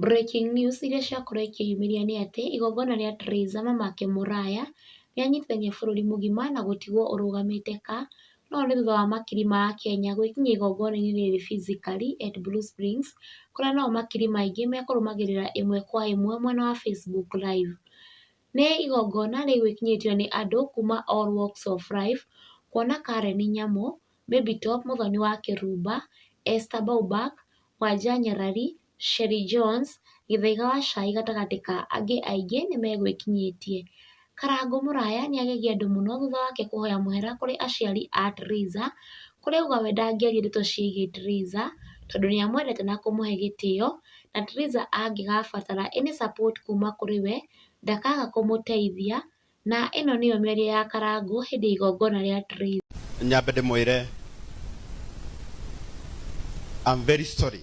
Breaking News iria ciakoretwo ikĩyumĩria nĩ atĩ igongona rĩa Theresa Mamake Mũraya rĩanyitithania bũrũri mũgima na gũtigwo ũrũgamĩte ka no nĩ thutha wa makiri ma akenya gwĩkinyia igongona-inĩ rĩrĩ physically at Blue Springs kũrĩa nao makiri maingĩ mekũrũmagĩrĩra ĩmwe kwa ĩmwe mwena wa Facebook live. Nĩ igongona rĩgwĩkinyĩtio nĩ andũ kuma all walks of life kuona Karen Nyamu, Baby Top mũthoni wa Kĩrumba, Esther Baubak, Wanja Nyarari Sherrie Jones, Gĩthaiga wa cai gatagatĩ ka angĩ aingĩ nĩmegwĩkinyĩtie. Karangũ mũraya nĩagegia andũ mũno thutha wake kũhoya mũhera kũrĩ aciari a Theresa, kũrĩ auga we ndangĩaria ndeto ciĩgiĩ Theresa tondũ nĩamwendete na kũmũhe gĩtĩo na Theresa angĩgabatara any support kuma kũrĩ we ndakaga kũmũteithia Na ĩno nĩyo mĩario ya Karangũ hĩndĩ ya igongona rĩa Tithe. Nyambe ndĩmwĩre I'm very sorry.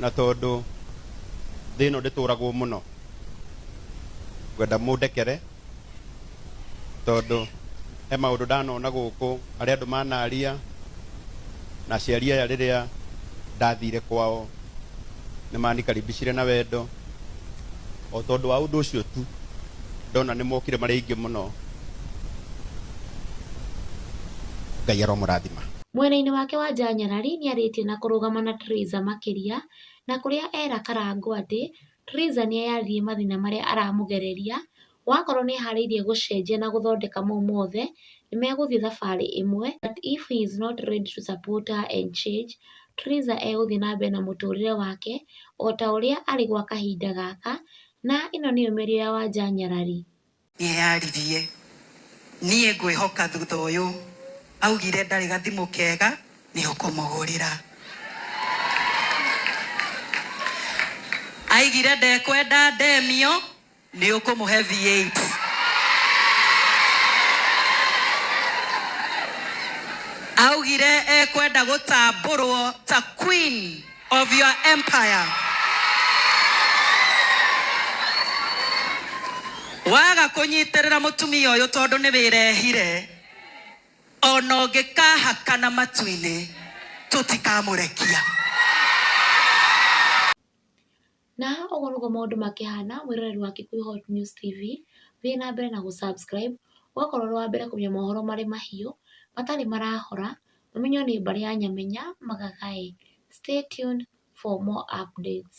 na tondũ thĩ ĩno ndĩtũragwo mũno ngwenda mũndekere tondũ he maũndũ ndanona gũkũ arĩa andũ manaria na aciari aya rĩrĩa ndathire kwao nĩ manikaribicire na wendo o tondũ wa ũndũ ũcio tu ndona nĩ mokire marĩ aingĩ mũno ngai aromũrathima Mwena-inĩ wake Wanja Nyarari nĩarĩtie na kũrũgama na Theresa makĩria na kũrĩa era Karangũ atĩ Theresa nĩeyarĩrie mathĩna marĩa aramũgereria wakorwo nĩeharĩirie gũcenjia na gũthondeka mau mothe nĩmegũthiĩ thabarĩ ĩmwe but if he is not ready to support her and change Theresa egũthiĩ na mbere na mũtũrĩre wake ota ũrĩa arĩ gwa kahinda gaka na ĩno nĩyo mĩario ya Wanja Nyarari. Nĩeyaririe, Niĩ ngwĩhoka thutha ũyũ. Augire ndarĩ gathimũ kega nĩũkũmũgũrĩra. Aigire ndekwenda ndemio nĩũkũmũhe V8. Augire ekwenda gũtambũrwo ta queen. of your empire. Waga kũnyitĩrĩra mũtumia ũyũ tondũ nĩ wĩrehire ona ũngĩkahakana matu-inĩ tũtikamũrekia. Na haha ũguo nĩguo maũndũ makĩhana mwĩroreri wa Kikuyu Hot News TV, thiĩ na mbere na gũ subscribe, ũgakorwo ũrĩ wa mbere kũmenya mohoro marĩ mahiũ, matarĩ marahora, ũmenywo nĩ mbarĩ ya Nyamenya magagaĩ. Stay tuned for more updates.